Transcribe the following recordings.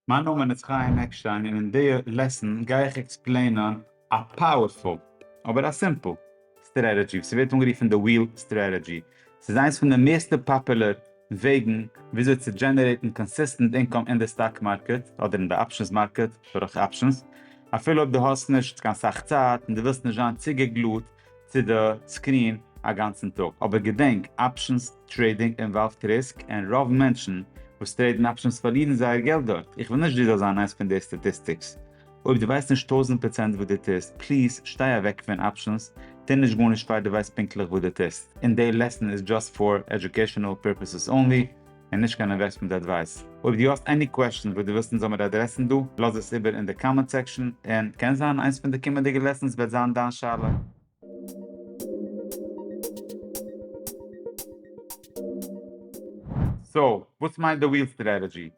מיין נאמען איז חיים עקשטיין און אין די לעסן גיי איך עקספלעינען א פאוערפול אבער א סימפל סטרעטעדזשי וואס ווערט אנגערופן די וויל סטרעטעדזשי. ס'איז איינס פון די מערסטע פאפולער וועגן וויאזוי צו דזשענערעיטן קאנסיסטענט אינקאם אין די סטאק מארקעט אדער אין די אפשענס מארקעט דורך אפשענס אפילו אויב דו האסט נישט קיין סאך צייט און דו ווילסט נישט זיין צוגעגלוט צו די סקרין א גאנצן טאג, אבער געדענק, אפשענס טרעידינג אינוואלווד ריסק און רוב מענטשן וואס טרעידן אפשענס פארלירן זייער געלט דארט, איך וויל נישט דו זאלסט זיין איינס פון די סטאטיסטיקס, אויב דו ווייסט נישט טויזנט פראצענט וואס דו טוסט, פליז שטיי אוועק פון אפשענס, טו נישט גארנישט פאר דו ווייסט פונקטליך וואס דו טוסט, און די לעסן איז דזשאסט פאר עדיוקעישאנעל פורפעסעס אנלי. און נישט קיין אינוועסטמענט אדווייס. אויב דו האסט עני קוועשאנס וואס דו ווילסט אונז זאלמיר אדרעסן דא, לאז עס איבער אין די קאמענט סעקשאן, און קען זיין איינס פון די קומענדיגע לעסאנס וועט זיין דיין שאלה. סאו, וואס מיינט די וויל סטרעטעדזשי?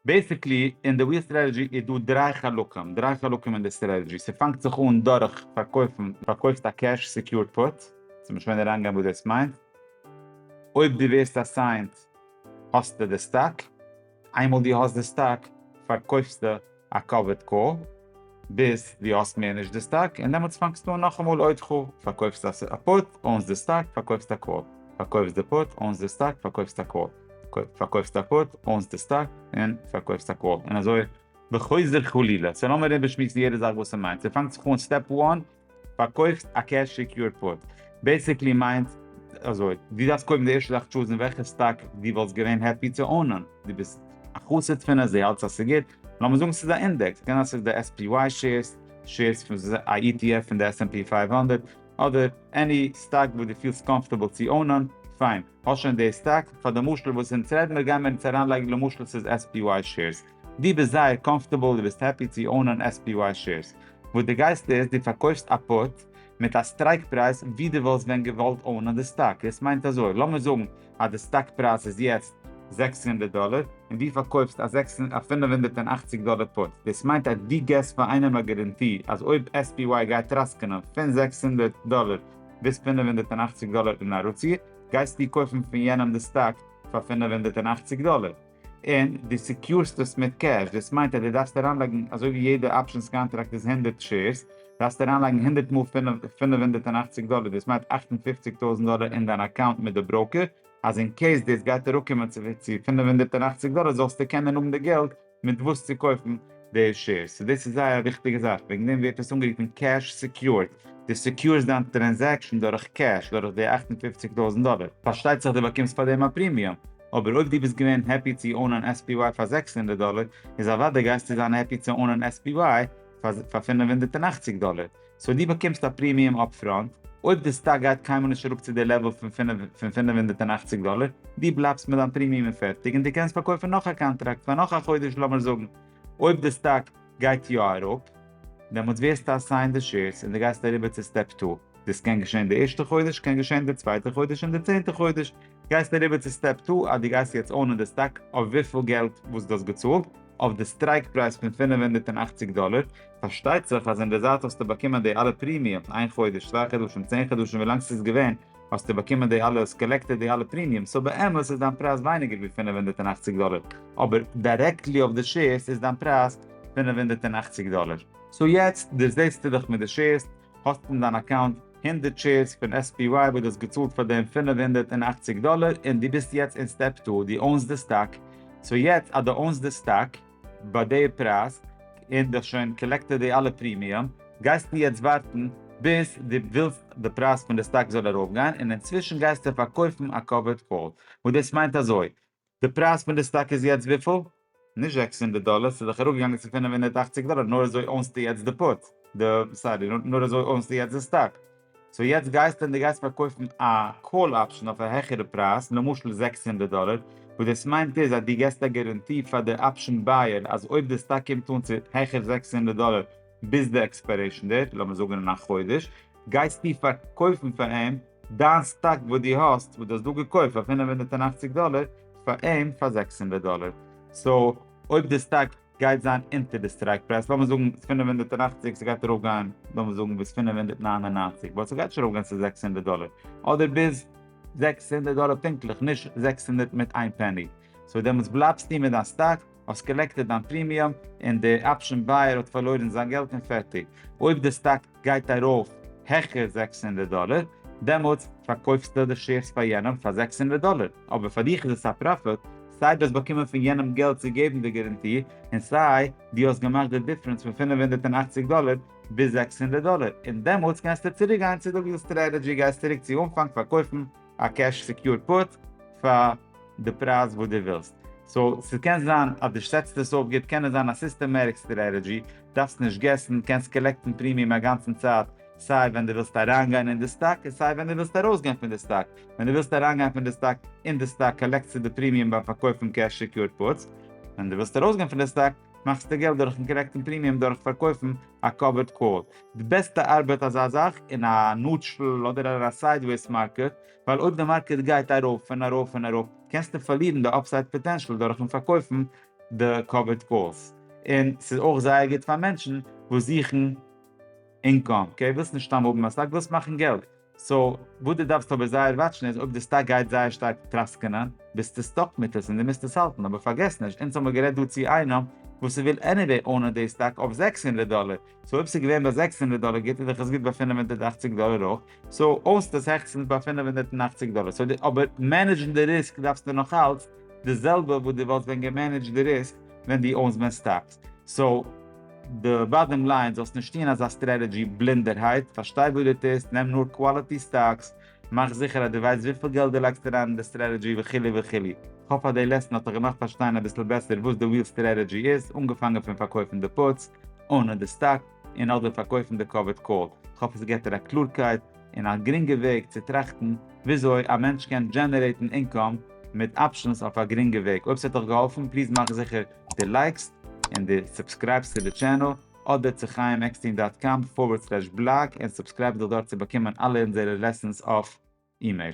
בעסיקלי אין די וויל סטרעטעדזשי איז דא דריי חלקים, דריי חלקים אין די סטרעטעדזשי, ס'פאנגט זיך אן דורך פארקויפן, פארקויפסט א קעש סעקיורד פוט, ס'איז נישט ווען אריינגיין וואס דאס מיינט, אויב דו ווערסט אסיינט האסטו די סטאק, איינמאל דו האסט די סטאק פארקויפסטו א קאווערד קאל, ביז דו האסט מער נישט די סטאק און דעמאלטס פאנגסטו אן נאכאמאל עוד ח, פארקויפסט א פוט, אוינס די סטאק, פארקויפסט א קאל, פארקויפסט די פוט, אוינס די סטאק, פארקויפסט א קאל, פארקויפסט א פוט, אוינס די סטאק, און פארקויפסט א קאל, און אזוי וחוזר חלילה, סאו לאמיר איבערשמועסן יעדע זאך וואס ס'מיינט, ס'פאנגט זיך אן סטעפ וואן, פארקויפט א קעש סעקיורד פוט. בעסיקלי מיינט אזוי, דו דארפסט קודם די ערשטע זאך טשוזן וועלכע סטאק דו וואלסט געווען העפי צו אונען, דו ביסט א חסיד פון עס, דו האלטסט אז ס'איז גוט, לאמיר זאגן ס'איז א אינדעקס, ס'קען זיין ס'איז די SPY שעירס, שעירס פון א ETF פון די SNP פֿינף הונדערט, אדער עני סטאק וואס דו פילסט קאמפארטעבל צו אונען, פיין, האסט שוין די סטאק, פאר די משל וואס אונז רעדן מיר גיימיר אונז אריינלייגן למשל ס'איז SPY שעירס, די ביסט זייער קאמפארטעבל די ביסט העפי צי אונען SPY שעירס, וואס די גייסט איז די פארקויפסט א פוט מיט א סטרייק פרייז ווי די וואלסט ווען געוואלט אונען די סטאק, דאס מיינט אזוי לאמיר זאגן אז די סטאק פרייז איז יעצט זעקס הונדערט דאלער און די פארקויפסט א זעקס א פֿינף הונדערט און אַכציק דאלער פוט, דאס מיינט אז די געסט פאר איינעם א גאראנטי אז אויב SPY גייט טראסקענען פין זעקס הונדערט דאלער ביז פֿינף הונדערט און אַכציק דאלער און ארוציער, גייסטו קויפן פין יענעם די סטאק פאר פֿינף הונדערט און אַכציק דאלער. און דו סעקיורסט עס מיט קעש, דאס מיינט אז דו דארפסט אריינלייגן אזוי ווי יעדע אפשענס קאנטראקט איז הונדערט שעירס, דארפסטו אריינלייגן הונדערט מאל פֿינף הונדערט און אַכציק דאלער, דאס מיינט אַכט און פֿופֿציק טויזנט דאלער אין דיין אקאונט מיט די בראוקער, אז אין קעיס דאס גייט אראפקומען צו פֿינף הונדערט און אַכציק דאלער זאלסטו קענען האבן די געלט מיט וואס צו קויפן די שעירס, סאו דאס איז זייער א וויכטיגע זאך, וועגן דעם ווערט עס אנגערופן קעש סעקיורד, דו סעקיורסט דיין טרענזעקשאן דורך קעש, דורך די אַכט און פֿופֿציק טויזנט דאלער. פארשטייט זיך דו באקומסט פאר דעם א פרימיום, אבער אויב דו ביסט געווען העפי צו אונען SPY פאר זעקס הונדערט דאלער, איז אוודאי גייסטו זיין העפי צו אונען SPY פאר פאר פֿינף הונדערט און אַכציק דאלער. סאו דו באקומסט א פרימיום אפפראנט, אויב די סטאק גייט קיינמאל נישט אראפ צו די לעוועל פון פון פֿינף הונדערט און אַכציק דאלער, דו בלייבסט מיט דיין פרימיום און פערטיג, און דו קענסט פארקויפן נאך א קאנטראקט פאר נאך א חודש לאמיר זאגן אויב די סטאק גייט יא אראפ, דעמאלטס ווערסטו אסיינד די שעירס און דו גייסט אריבער צו סטעפ טו. דאס קען געשען די ערשטע חודש, קען געשען די צווייטע חודש און די צענטע חודש, גייסטו אריבער צו סטעפ טו אז דו גייסט יעצט אונען די סטאק אויף וויפיל געלט וואס דו האסט געצאלט, אויף די סטרייק פרייז פון פֿינף הונדערט און אַכציק דאלער, פארשטייט זיך אז אינדערזייט האסטו באקומען די אלע פרימיומס, איין חודש, צוויי חדשים, צען חדשים ווילאנג ס'איז געווען, האסטו באקומען די אלע, האסט קאלעקטעד די אלע פרימיומס, סאו באמת איז דיין פרייז ווייניגער ווי פֿינף הונדערט און אַכציק דאלער, אבער דירעקטלי אויף די שעירס איז דיין פרייז פֿינף הונדערט און אַכציק דאלער. סאו יעצט דערזעסטו דיך מיט די שעירס, האסט אין דיין אקאונט הונדערט שעירס פון SPY וואס דו האסט געצאלט פאר דעם פֿינף הונדערט און אַכציק דאלער און דו ביסט יעצט אין סטעפ טו, דו אונסט די סטאק, סאו יעצט אז דו אונסט די סטאק ביי די פרייז און דו האסט שוין קאלעקטעד די אלע פרימיום, גייסטו יעצט ווארטן ביז דו ווילסט די פרייז פון די סטאק זאל ארויפגיין און אינצווישן גייסטו פארקויפן א קאווערד קאל, וואס דאס מיינט אזוי, די פרייז פון די סטאק איז יעצט וויפיל? נישט זעקס הונדערט דאלער, ס'איז דאך אראפגעגאנגען צו פֿינף הונדערט אַכציק דאלער, נאר אזוי אונסטו יעצט די פוט, די, סארי, נאר אזוי אונסטו יעצט די סטאק. סאו יעצט גייסטו און די גייסט פארקויפן א קאל אפשן אויף א העכערע פרייז, למשל זעקס הונדערט דאלער, וואס דאס מיינט איז אז דו געסט א געראנטי פאר די אפשן בייער אז אויב די סטאק קומט אן צו העכער זעקס הונדערט דאלער ביז די עקספיירעישן דעיט, לאמיר זאגן אין א חודש, גייסטו פארקויפן פאר אים, דיין סטאק וואס דו האסט וואס דו האסט דא געקויפט פאר פֿינף הונדערט און אַכציק דאלער פאר אים פאר זעקס הונדערט דאלער סאו אויב די סטאק גייט זיין אונטער די סטרייק פרייז לאמיר זאגן פֿינף הונדערט און אַכציק ס'גייט ארויף גיין לאמיר זאגן ביז פֿינף הונדערט נײַן און נײַנציק באט ס'גייט נישט ארויף גיין צו זעקס הונדערט דאלער אדער ביז זעקס הונדערט דאלער פונקטליך נישט זעקס הונדערט מיט איין פעני סאו דעמאלטס בלייבסטו מיט דיין סטאק. האסט קאלעקטעד דיין פרימיום און די אפשען בייער האט פארלוירן זיין געלט און פערטיג. אויב די סטאק גייט ארויף העכער זעקס הונדערט דאלער, דעמאלטס פארקויפסטו די שעירס פאר יענעם פאר זעקס הונדערט דאלער, אבער פאר דיך איז עס א פראפיט, סיי דו האסט באקומען פון יענעם געלט צו געבן די גאראנטי, און סיי דו האסט געמאכט די דיפרענס פון פֿינף הונדערט און אַכציק דאלער ביז זעקס הונדערט דאלער, און דעמאלטס קענסטו צוריקגיין צו די סטרעטעדזשי, גייסט צוריק צו אנפאנג פארקויפן א קעש סעקיורד פוט פאר די פרייז וואס דו ווילסט. סאו ס'קען זיין אז דו סעטסט עס אויף גוט, קען עס זיין א סיסטעמעטיק סטרעטעדזשי, דארפסט נישט געסן, קענסט קאלעקטן פרימיום א גאנצן צייט, סיי ווען דו ווילסט אריינגיין אין די סטאק און סיי ווען דו ווילסט ארויסגיין פון די סטאק, ווען דו ווילסט אריינגיין פון די סטאק אין די סטאק קאלעקטסטו די פרימיום ביים פארקויפן קעש סעקיורד פוטס, ווען דו ווילסט ארויסגיין פון די סטאק. מאכסט די געלט דורכן קארעקטן פרימיום דורך פארקויפן א קאווערד קאל. די בעסטע ארבעט אזא זאך אין א נאטשעל אדער אין א סיידוועיס מארקעט, ווייל אויב די מארקעט גייט ארויף און ארויף און ארויף, קענסטו פארלירן די אפסייד פאטענשאל דורכן פארקויפן די קאווערד קאלס. און ס'איז אויך זייער גוט פאר מענטשן וואס זוכן אינקאם, אקעי? ווילסט נישט סתם האבן א סטאק, ווילסט מאכן געלט. סאו, וואס דו דארפסט אבער זייער וואטשן איז אויב די סטאק גייט זייער שטארק טראסקענען, ביסטו סטאק מיט עס און דו מוזט עס האלטן, אבער פארגעס נישט, אונז האמיר גערעדט דא צו איינעם וואס וויל עניוועי אונען די סטאק אויף זעקס הונדערט דאלער, סאו אויב ס'איז געווען ביי זעקס הונדערט דאלער גוט איז דאך עס גוט ביי פֿינף הונדערט אַכציק דאלער אויך, סאו האסט עס העכסטענס ביי פֿינף הונדערט און אַכציק דאלער, סאו די אבער מענעדזשן די ריסק דארפסטו נאכאלץ די זעלבע וואס דו וואלסט ווען געמענעדזשט די ריסק ווען דו אונסט ווען סטאק. סאו די באדעם ליין זאלסט נישט טוהן אזא סטרעטעדזשי בלינדערהייט, פארשטיי וואס דו טוסט, נעם נאר קוואליטי סטאקס, מאך זיכער אז דו ווייסט וויפיל געלט דו לייגסט אריין אין די סטרעטעדזשי וכו' וכו'. כ'האף אז די לעסן האט דיך געמאכט פארשטיין אביסל בעסער וואס די וויל סטרעטעדזשי איז, אנגעפאנגען פון פארקויפן די פוטס אנע די סטאק, און אדער פארקויפן די קאווערד קאל, כ'האף עס געבט דיר א קלארקייט און א גרינגע וועג צו טראכטן וויאזוי א מענטש קען דזשענערעיטן אינקאם מיט אפשענס אויף א גרינגע וועג, אויב ס'האט דיך געהאלפן פליז מאך זיכער די לייקסט און די סובסקרייבסט צו די טשענעל, אדער צו חיים עקסטין דאט קאם פארווערד סלעש בלאג און סובסקרייב דיך דארט צו באקומען אלע אונזערע לעסענס אויף אימעיל.